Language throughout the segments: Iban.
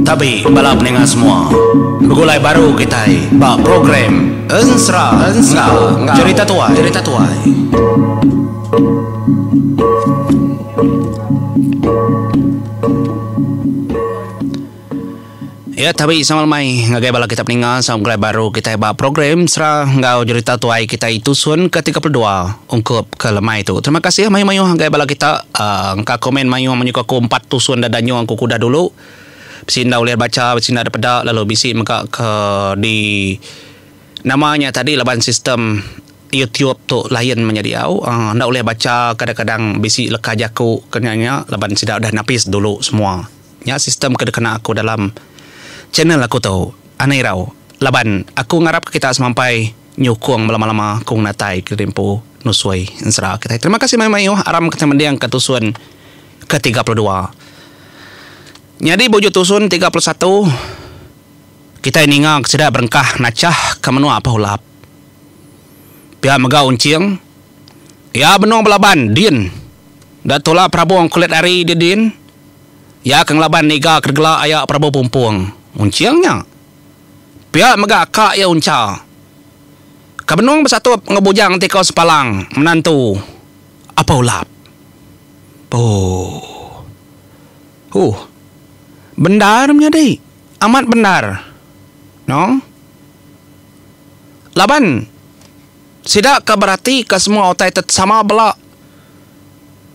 Tabi bala peninga semua, begulai baru kitai ba program Ensera enggau Cherita Tuai. Iya tabi sama lemai ngagai bala kita peninga sama begulai baru kitai ba program Sera enggau Jerita Tuai kitai Tusun ke tiga puluh dua ungkup ke lemai tu. Terima kasih mayuh-mayuh ngagai bala kita uhh engka komen mayuh menyuka aku empat tusun da danyung aku ke udah dulu. Bisi enda ulih bacha bisi enda dep peda lalu bisi mega ke di nama nya tadi laban sistem YouTube tu lain manya diau uhh enda ulih bacha kadang-kadang bisi leka jaku ke nya-nya laban sida udah napis dulu semua. Nya sistem ke dikena aku dalam channel aku tu Ana Irau laban aku ngarapka kita semampai nyukung belama-lama ku ngena tai ke diempu nusui ensera kitai. Terima kasih mayuh-mayuh aram kitai mendingka tusun ke tiga puluh dua. Nyadi bujur tusun tiga puluh satu kitai ninga ke sida berengkah nachah ke menua Pehulap. Pia mega Unching iya benung belaban din. Enda tula perabung kulit ari dia din. Iya ke ngelaban niga kedegela aya Prabu Pumpung Unching nya. Pia mega ka iya uncha. Ka benung besatup enggau Bujang Tiko Sepalang, menantu Apau Lap. Ooh. Ooh. Bendar menyadi. Amat bendar. Noo. Laban. Sida ke beratika semua utai tu sama bela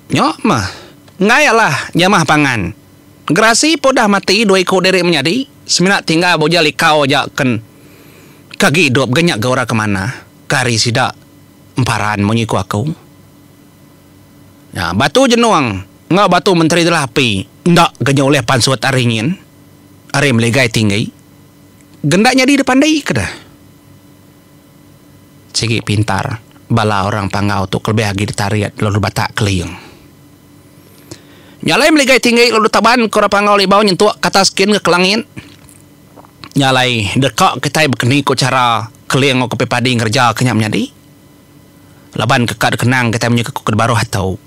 nya meh. Enggai alah jamah pangan. Gerasi pun udah mati dua iku diri menyadi, semina tinggal bujil ikau aja ken ke agi idup ga nya ga orang ke manah ke ari sida emparan munyi ku aku. Nya batu jenong enggau batu menteri telah api enda ga nya ulih pansut ari nyin ari meligai tinggi. Ga enda nyadi dipandika dah. Sigi pintar bala orang Panggau tu kelebih agi ditarit lalu dibatak keling. Nya alai meligai tinggi lalu ditaban ke orang Panggau Libau nyentuk ke atas kin ke langit. Nya alai deka kitai bekeni ku chara keling enggau kepi padi ngereja ke nya menyadi laban ke ka dikenang kitai menyuka ku kedebaruh atu.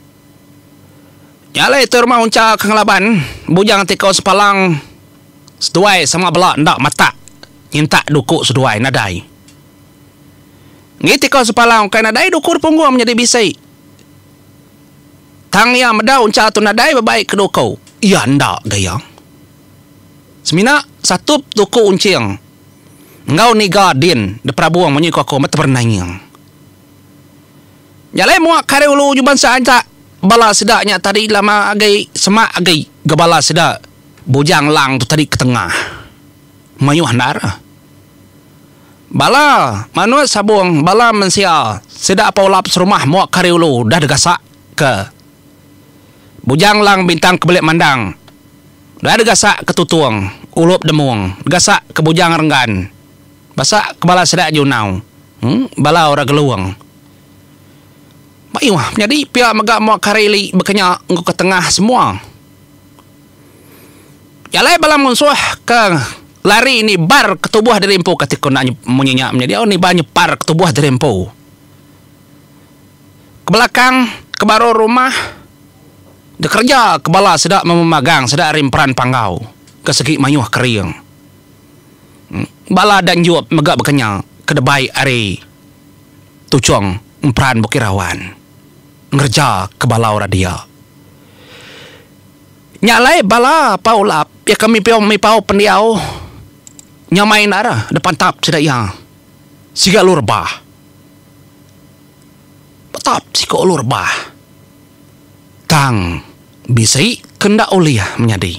Nya alai tu rumah uncha ke ngelaban bujang ti kau sepalang. seduai sama bela enda matak nyintak duku seduai nadai ngitikau sepalang ukai nadai duku dipunggung menyadi bisi tang iya meda uncha tu nadai bebaik ke duku iya enda ga iya semina satup duku unching enggau niga din diperabung munyi ku aku meh teberenai nying. Nya alai mua kari ulu nyuban seantak bala sida nya tadi lama agi semak agi ga bala sida Bujang Lang tu tadi ketengah mayuh endar. Bala manut sabung bala mensia sida apai ulap serumah mua kari ulu dah degasak ke Bujang Lang bintang ke belik mandang dah degasak ke Tutung ulup Demung degasak ke Bujang Renggan. Basa ke bala sida Junau bala orang Gelong. Mayuh menyadi pia mega mua Kareli bekenya enggau ke tengah semua. Jalai bala munsuh ke lari nibar ke tubuh diri empu kati ku enda munyi nya menyadi au nibar nyepar ke tubuh diri empu. Ke belakang ke baruh rumah dikereja ke bala sida memu magang sida ari emperan Panggau ke segi mayuh kering. Bala Danjop mega bekenya ke debai ari Tuchong emperan Bukit Rawan ngereja ke balau radia. Nya alai bala Pau Lap iya ke mipau pendiau nyamai enda re depantap sida iya siga lu rebah. Betap siku lu rebah tang bisi ke enda ulih menyadi.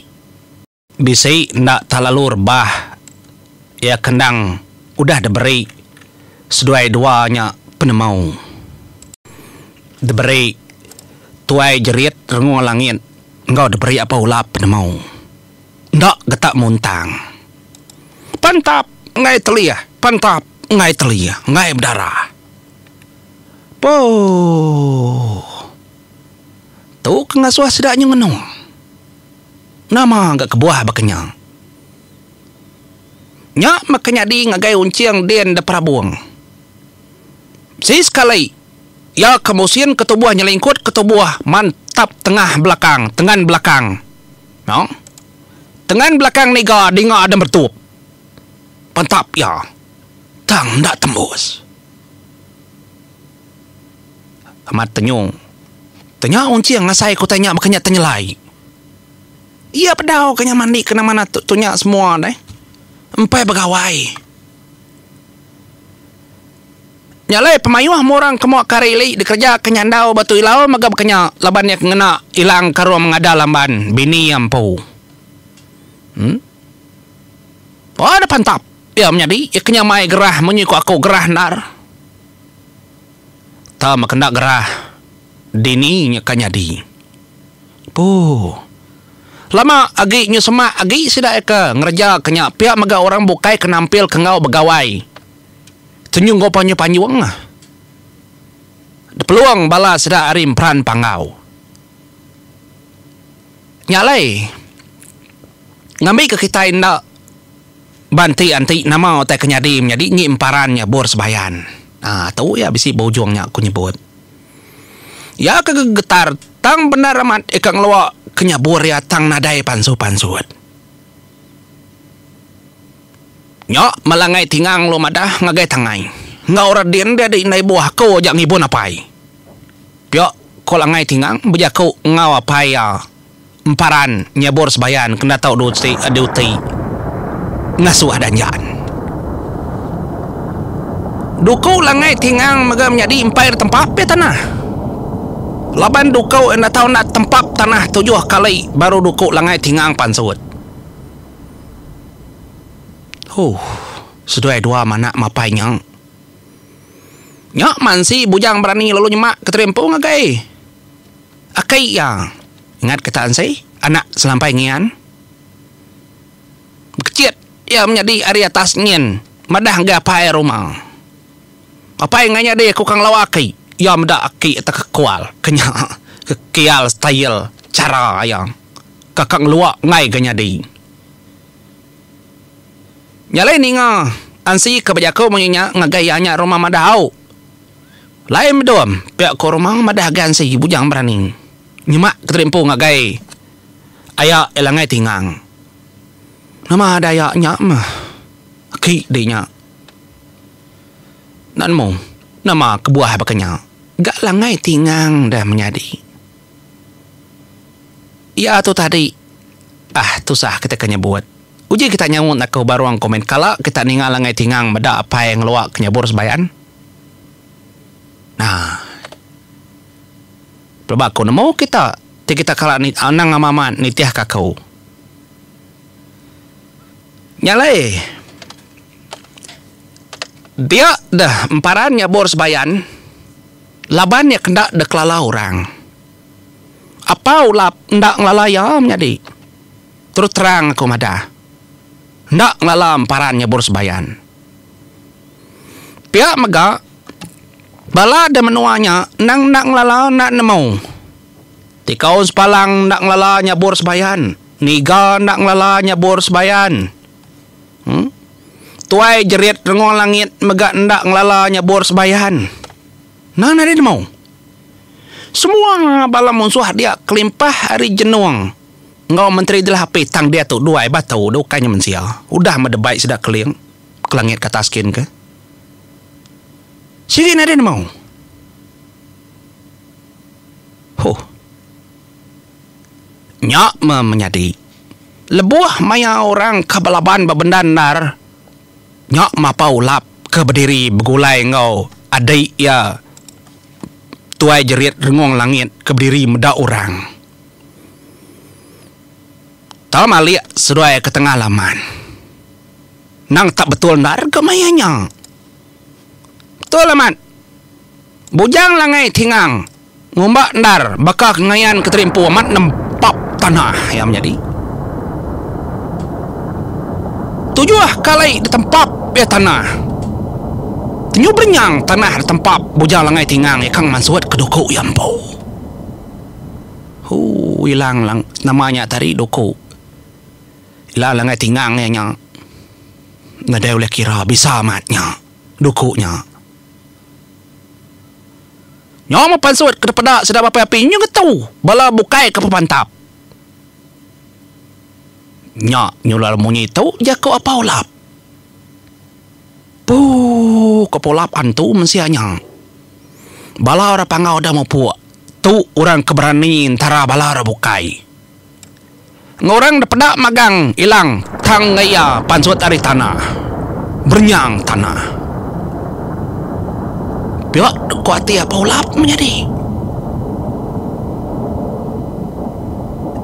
Bisi enda talalu rebah iya ke endang udah diberi seduai dua nya penemu. Diberi tuai jerit rengol langit enggau diberi apai ulap penemu. Enda getak muntang. Pantap enggai telih, pantap enggai telih, enggai bedara. Pooh. Tu ke ngasuh sida nyengenung. Nama ga kebuah baka nya? Nya baka nyadi ngagai Unching din da perabung. Sesekali iya ke musin ketubuh nyelingkut ketubuh mantap tengah belakang tengan belakang. Nang tengan belakang niga dinga ada meretup. Mantap iya. Tang enda tembus. Amat tenyung. Tau nya Unching ngasai ke utai nya baka nya tenyelai. Iya bedau ke nya mandi kena manah tu tu nya semua deh. Empai begawai. Nya alai pemayuh meh orang ke mua ke hari li dikereja ke nyandau ba tu Ilau mega baka nya laban iya ke ngena Ilang ke rung mengada lamban bini iya empu. Em. Ba deh pantap iya menyadi iya ke nya mai gerah munyi ku aku gerah endar. Tau meh kenda gerah dini nya ka nyadi. Puh. Lama agi nyu semak agi sida eka ngereja ke nya pia mega orang bukai ke nampilka enggau begawai tu nyu enggau panjung panjung. Depelung bala sida ari emperan panggau. Nya alai. Ngambika kitai enda. Ba enti enti nama utai ke nyadi menyadi enggi emparan nya bur sebayan. Aa tu iya bisi ba ujung nya aku nyebut. Iya ke gegetar tang bendar amat ika ngelua ke nya bur iya tang nadai pansu pansut. Nya malangai tingang lu madah ngagai tangai enggau radin dia di indai buah aku aja ngibun apai. Pia ko langai tingang bejaku enggau apai iya. emparan nyabur sebayan kena tau duti duti ngasuh adan jaan. Duku langai ti ngang mega menyadi empai enda tempap pia tanah. Laban duku enda tau enda tempap tanah tujuh kali baru duku langai ti ngang pansut. Huh, seduai dua manak mapai nya. Nya mansi bujang berani lalu nyemak ke terimpung agai. Akai iya ingat ke Taan Sei, anak selampai Ngian. Bekecit iya menyadi ari atas nyin madah ngagai apai ruma. Apai enggau nyadi aku ka ngelau aki, iya meda aki atas kekual ke nya kekial style chara iya ka ka ngelua enggai ga nyadi. Nya alai ninga Ansi ka bejaku munyi nya ngagai iya nya ruma madah au. Lain bedom, pia ko Romang madah gan segi bujang beraning nyema keterimpu ngagai aya iya langgai ti ngang. Nama ada aya nya meh aki deh nya. Enda nemu nama kebuah baka nya ga langgai ti ngang dah menyadi. Iya tu tadi ah tusah kita ke nyebut. Uji kita nyaut enda ko barong komen kala kita ninga langgai ti ngang meda apai ngelua ke nyabur sebayan. Nah. Pelaba aku nemu kita ti kita kala anang amat amat nitihka aku. Nya alai dia deh emparan nyabur sebayan laban iya kenda deh kelala orang. Apa ulap enda ngelala iya menyadi. Terus terang aku madah. Enda ngelala emparan nyabur sebayan. Pia mega, bala da menua nya endang enda ngelala enda nemu. Tikaun sepalang enda ngelala nyabur sembayan. Niga enda ngelala nyabur sembayan. Uhh. Tuai jerit rengol langit mega enda ngelala nyabur sembayan. Nan ari nemu. Semua bala munsuh dia kelimpah ari jenung. Enggau Menteri Jelah Api tang diatu dua ai batu dah ukai nya mensia. Udah meh debai sida keling ke langit kata askin ke. Sigi nadai nemu. Huh. Nya meh menyadi. Lebuh maya orang ke belaban bebendar endar nya mapa ulap ke bediri begulai enggau adi iya Tuai Jerit Rengong Langit ke bediri meda orang. Tom alik seduai ke tengah laman. Nang tak betul enda rega maya nya. Betul amat. Bujang Langai Tingang ngumba endar baka ke ngayan Kenteri Empu amat nempap tanah iya menyadi. Tujuh ka alai ditempap iya tanah. Tenyubrenyang tanah ditempap Bujang Langai Tingang iya ka ngemansut ke duku iya empu. Hoo ila lang nama nya tadi duku ila langgai tingang iya nya nadai ulih kira bisa amat nya duku nya nyau meh pansut kada peda sida baka api nyu ngetu bala bukai ke pemantap nya nyular munyi tu jaku apau lap. Puuh kepulap antu mensia nya. Bala orang panggau deh mupuk tu orang ke berani entara bala orang bukai. Enggau orang deh peda magang ilang tang enggau iya pansut ari tanah. Berenyang tanah. Pia ku ati apai ulap menyadi.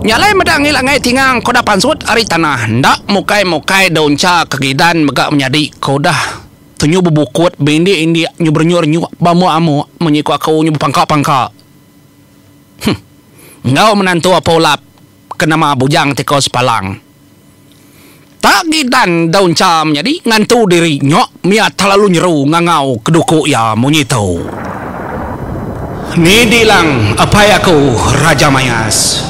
Nya alai meda ngila ngai tingang ke udah pansut ari tanah enda mukai-mukai daun cha ke gidan mega menyadi ke udah tenyu bebukut beindik-indik nyu berenyuk-renyuk beamuk-amuk munyi ku aku nyu bepangka-pangka. Huh. Enggau menantu apai ulap ke nama Bujang Tiko Sepalang. Tak gidan daun cham nyadi ngantu diri nyok mia terlalu nyeru ngangau keduku iya munyi tu. Ni dilang apai aku Raja Mayas.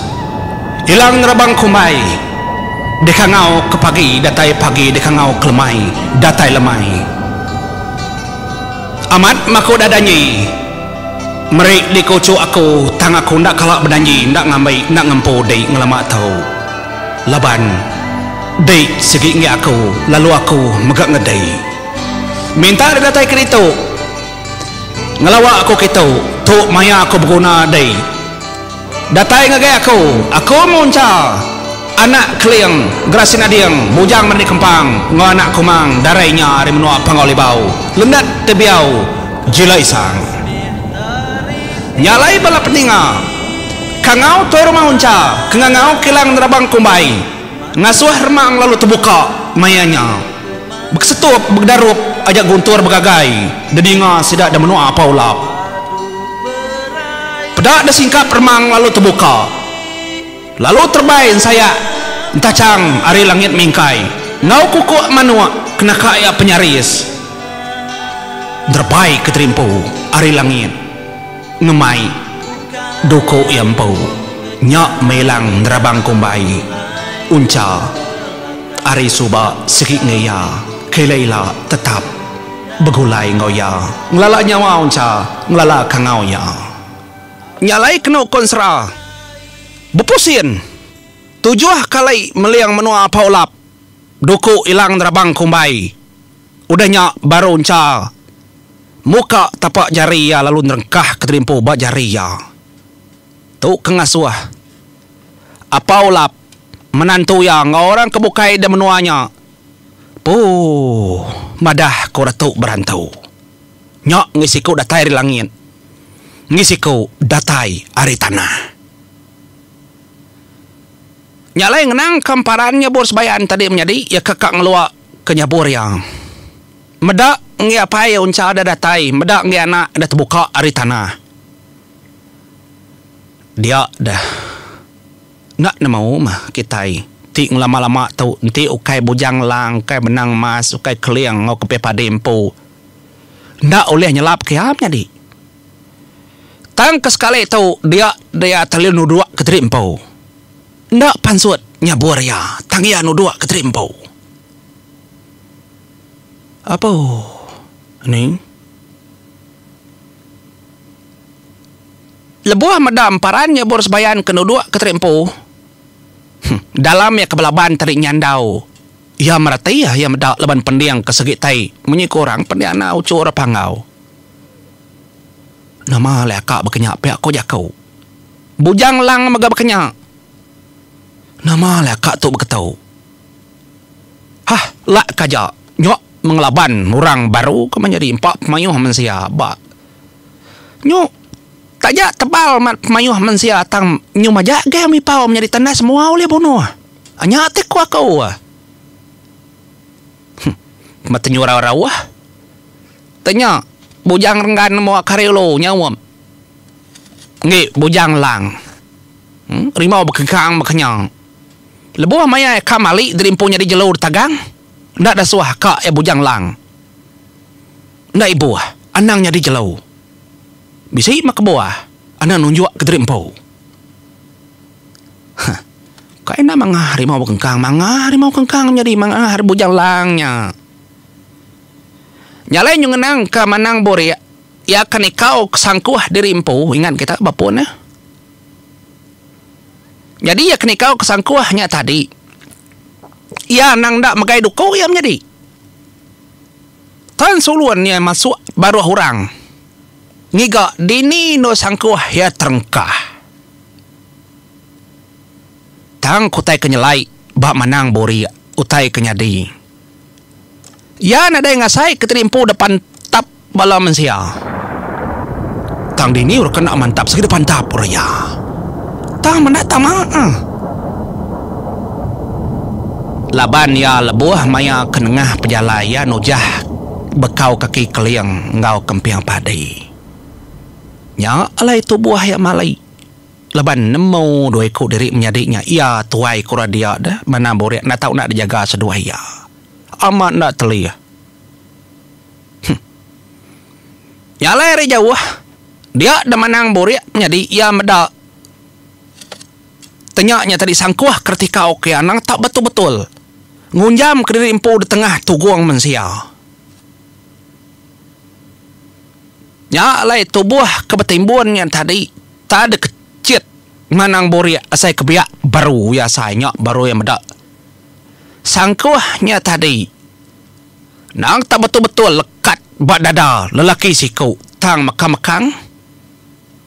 Ilang ngerabang kumbai deka ngau ke pagi datai pagi deka ngau ke lemai datai lemai. Amat maku dah danji meri di kuchuk aku tang aku enda kala bedanji enda ngambi enda ngempu di ngelama tu. Laban, Dei sigi enggi aku, lalu aku mega ngedei. Minta didatai ke ditu. Ngelawa aku kitu, tu maya aku beguna dei. Datai ngagai aku, aku munca anak Keling, Gerasin Ading, Bujang Merni Kempang enggau anak Kumang darai nya ari menua Pangau Libau, Lendat Tebiau, Jila Isang. Nya alai bala peninga. Kangau Toi Rumah Uncha ke ngangau kilang nerabang kumbai ngasuh remang lalu tebuka maya nya. Bekesetup begedarup aja guntur begagai dedinga sida da menua apa ulap. Peda da singkap remang lalu tebuka lalu terbai ensayak entachang ari langit mingkai enggau kukuk manuk ke naka iya penyaris nerbai ke terimpu ari langit. Ngemai, duku iya empu. Nya Melang nerabang kumbai. Uncha, ari suba sigi enggau iya. Kela ila tetap begulai enggau iya. Ngelala nyawa Uncha ngelala kangau iya. Nya alai kenu kon sera. Bepusin, tujuh kali meling menua Apaulap. Duku Ilang nerabang kumbai. Udah nya baru Encha muka tapak jari iya lalu nerengkah ketelimpu ba jari iya. Tu ke ngasuh Apau Lap, menantu iya enggau orang ke bukai da menua nya, Puuh, madah ku Ratu Berantu. Nya enggi siku datai ari langit, enggi siku datai ari tanah. Nya alai ngenangka emparan nyebur sembahyang tadi menyadi iya ke ka ngelua ke nyebur iya. Meda enggi apai uncha deh datai, meda enggi anak deh tebuka ari tanah. Dia deh. Enda nemu meh kitai ti ngelama-lama tu enti ukai bujang lang, ukai benang emas, ukai keling enggau kepih padi empu enda ulih nyelapka iya menyadi. Tang ke sekali tu dia dia telalu nuduk ke teri empu. Enda pansut nyabur iya tang iya nuduk ke teri empu. Apo ni lebuh meda emparan nyabur sebayan ke nuduk ke teri empu huh dalam iya ke belaban tadi nyandau iya mereti iya meda laban pending ke segitai munyi ke orang pending enda uchu ora panggau. Nama alai aka baka nya pia ko jaku. Bujang lang mega baka nya. Nama alai aka tu baka tu. Hah lak ka aja nyo mengelaban orang baru ke menyadi empa pemayoh mensia ba nyo taja tebal mat pemayoh mensia tang nyo maja geh mipau menyadi tandas mua ulih bunoh. Anya ti ko aku. Huh. Metenyu rau-rau ah. Tanya, Bujang renggan nemu akar yellow nyaum. Enggi, Bujang lang. Rimau bekegang bekenyang. Lebuh maya iya ka mali dirimpung nyadi jelu ditagang, enda dasuah ka iya Bujang lang. Enda ibuh, anang nyadi jelu. Bisi meh kebuah anang nunjuk ke dirimpung. Huh. Kai enda mangah rimau bekegang, mangah rimau bekegang nyadi mangah ari Bujang lang nya. Nya alai nyu ngenang ka manang burik iya ka nikau ka sangkuh diri empu ingat kita bapun eh. Nyadi iya ka nikau ka sangkuh nya tadi iya anang enda megai duko iya menyadi. Tan sulun iya masuk baruh orang ngiga dini endo sangkuh iya terengkah. Tang ke utai ke nyelai ba manang burik utai ke nyadi. Iya nadai ngasai ke tadi empu deka pantap bala mensia. Tang dini orang kena mantap sigi deka pantap orang iya. Tang meda tama ah. Laban iya lebuh maya ke nengah pejalai iya nujah bekau kaki keling enggau kemping padi. Nya alai tubuh iya mali. Laban nemu dua iku diri menyadi nya iya tuai kura dia deh manah burik enda tau enda dijaga seduai iya. Amat enda telih. Huh. Nya alai ari jauh dia deh manang burik menyadi iya meda tenya nya tadi sangkuh keretika ukai anang tau betul-betul ngunjam ke diri empu detengah tugung mensia. Nya alai tubuh ke betimbun nya tadi. Tak ada ke cit manang burik asai ke biak baru iya asai nya baru iya meda sangkuh nya tadi nang tak betul-betul lekat ba dada lelaki siku tang mekang-mekang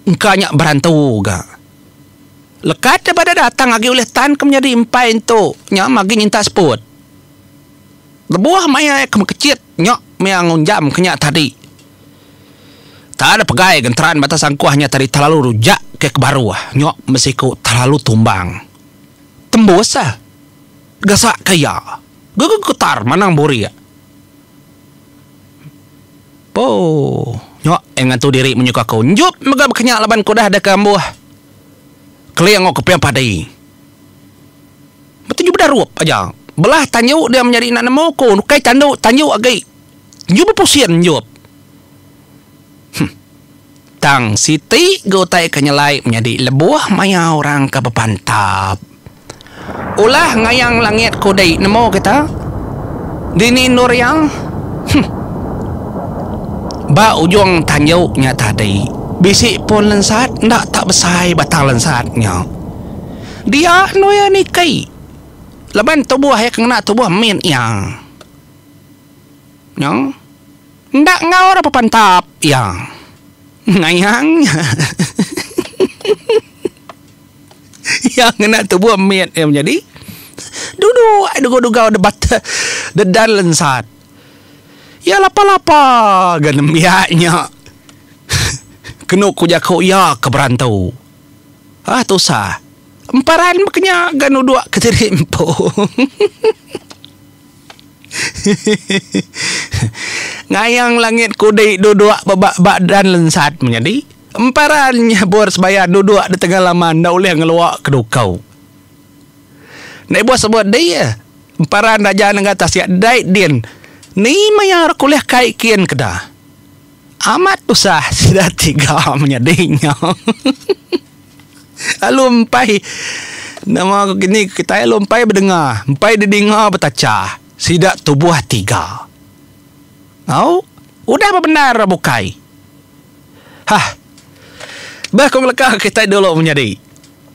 engka nya berantu ga lekat iya ba dada tang agi ulih tan ke menyadi empai entu nya magi nyintak seput lebuh maya iya ke mekecit. Nyok mea ngunjam ke nya tadi. Tak ada pegai genteran bata sangkuh nya tadi telalu rujak ke kebaru ah. Nyok besiku telalu tumbang. Tembus ah. Gasak ka iya. Gege getar manang burik. Poo. Nyok ai ngantu diri menyuka aku. Njup mega beke nya laban ku dah deka ambuh. Keling enggau keping padi. Betuju beda rup aja. Belah tanju dia menyadi enda nemu ku ukai tandu tanju agi nyu bepusin nyup. Huh. Tang siti ga utai ke nyelai menyadi lebuh maya orang ke bepantap. Ulah ngayang langit kudi nemu kita. Dini endur iya? Huh. Ba ujung tanju nya tadi bisi pun lensat enda tak besai batang lensat nya. Dia endur iya niki laban tubuh iya ke ngena tubuh min iya. Nyo enda engaur apa pantap iya. Ngayang nya iya ngena tubuh mit iya menyadi duduk ai degau-degau debat dedan lensat. Iya lapa-lapa ga nembiak nya kenu ku jaku iya ke berantu. Hah tusah. Emparan mega nya ga nuduk ke diri empu. Ngayang langit kudi duduk ba badan lensat menyadi. Emparan nyabur sebaya duduk di tengah laman enda ulih ngelua ke dukau. Enda ibuh sebut di iya. Emparan raja nengah tasik dai din. Ni maya ra kulih kai kin keda. Amat tusah sida ti ga menyadi nya. Lalu empai nama ku kini kitai lalu empai bedenga, empai didinga betacha sida tubuh tiga. Au, udah bebendar ra bukai. Hah. Bah ku ngeleka kitai dulu menyadi.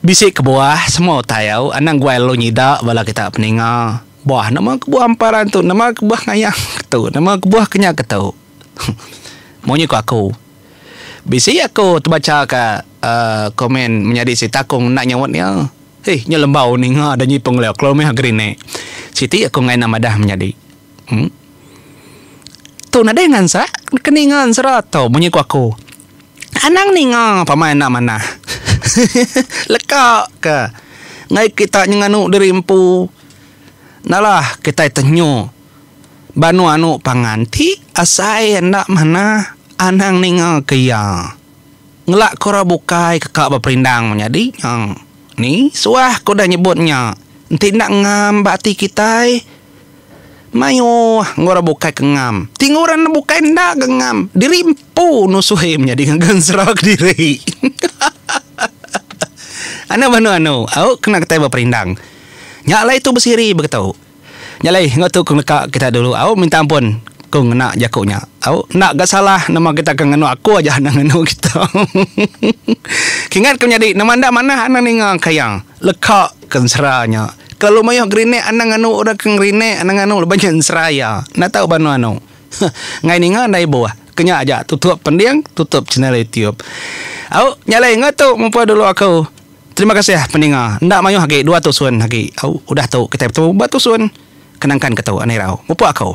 Bisi kebuah semua utai au anang guai lalu nyida bala kita peninga. Bah nama kebuah emperan tu, nama kebuah ngayank tu, nama kebuah ke nya ke tu. Munyi ku aku. Bisi aku tebacha ka komen menyadi siti takung enda nyaut iya. Hih nya lembau ninga da nyipung leo kelo mih gerinik. Siti aku ngaina madah menyadi. Em. Tu nadai ngansak ke ninga ensera tu munyi ku aku. Anang ninga pama enda manah. Leka ka enggau kita nyenganu diri empu. Nalah kitai tenyo. Banu anu pangan ti asai enda manah anang ninga ke iya. Ngelak ke orang bukai ke ka beperindang menyadi nya. Ni suah ke udah nyebut nya enti enda ngam ba ati kitai. Mayuh enggau orang bukai ke ngam. Ti enggau orang bukai enda ke ngam. Diri empu nusui menyadi ngaga ensera kediri. Anu banu anu au kena kitai beperindang. Nya alai tu besiri baka tu. Nya alai enggau tu ku neka kita dulu au minta ampun ku ngena jaku nya au enda ga salah nama kita ke nganu aku aja enda nganu kita kingat ku nyadi nama enda manah anang ninga kaya leka ke ensera nya kelalu mayuh gerinik anang nganu orang ke ngerinik anang nganu laban nya ensera iya enda tau ba anu anu ngai ninga enda ibuh ke nya aja tutup pending tutup channel YouTube au nya alai enggau tu mupah dulu aku. Terima kasih peninga enda mayuh agi dua tusun agi udah tu kitai betemu ba tusun kenangkan ke tu andirau mupuk aku.